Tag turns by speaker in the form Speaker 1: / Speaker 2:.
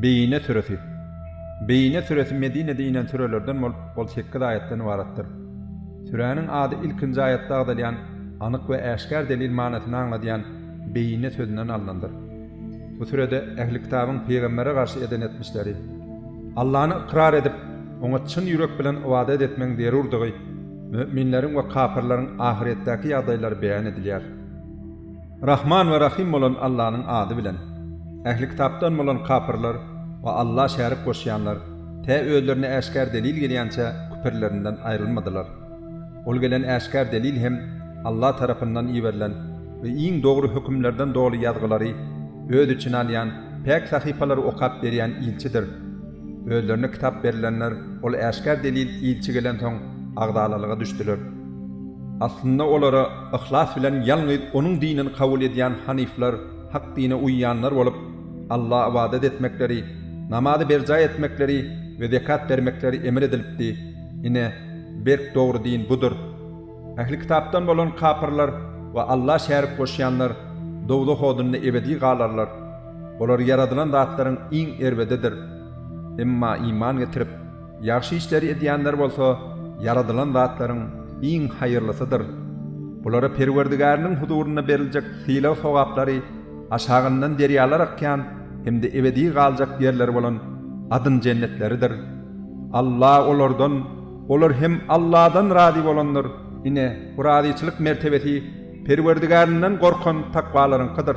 Speaker 1: Beýine süresi. Beýine süresi Medinede inen sürelerden bolup, ol sekiz aýatdan ybaratdyr. Süräniň ady ilkinji aýatda agzalýan anyk we äşgär delil manysyny aňladýan Beýine sözünden alnandyr. Bu sürede Ähli Kitabyň pygambere garşy eden etmişleri, Allany ykrar edip, Oňa çyn ýürek bilen ybadat etmegiň zerurdygy, müminleriň we kapyrlaryň ahyretdäki ýagdaýlary beýan edilýär. Rahman we Rahym bolan Allanyň ady bilen. Ähli kitapdan bolan kapyrlar we Alla şärik goşýanlar tä özlerine äşgär delil gelýänçä küpürlerinden aýrylmadylar. Ol gelen äşgär delil hem Alla tarapyndan iberilen we iň dogry hökümlerden doly ýazgylary öz içine alýan päk sahypalary okap berýän ilçidir. Özlerine kitap berilenler ol äşgär delil ilçi gelensoň agzalalyga düşdüler. Aslynda olara yhlas bilen ýalňyz Onuň dinini kabul edýän hanyflar, hak dine uýýanlar bolup, Alla ybadat etmekleri, namazy berjaý etmekleri we zekat bermekleri emr edilipdi. Ine, berk dogry din budur. Ähli kitapdan bolan kapyrlar we Alla şärik goşýanlar dowzah odunda ebedi galarlar. Olar ýaradylan zatlaryň iň erbedidir. Emma iman getirip, ýagşy işleri edýänler bolsa ýaradylan zatlaryň iň haýyrlysydyr. Bulara Perwerdigäriniň huzurynda beriljek sylag-sogaplary aşagyndan derýalar akýan hem-de ebedi galjak ýerleri bolan adyn jennetleridir. Alla olardan, Olar hem Alladan razy bolandyr. Ine, bu razyçylyk mertebesi Perwerdigärinden gorkan takwalaryňkydyr.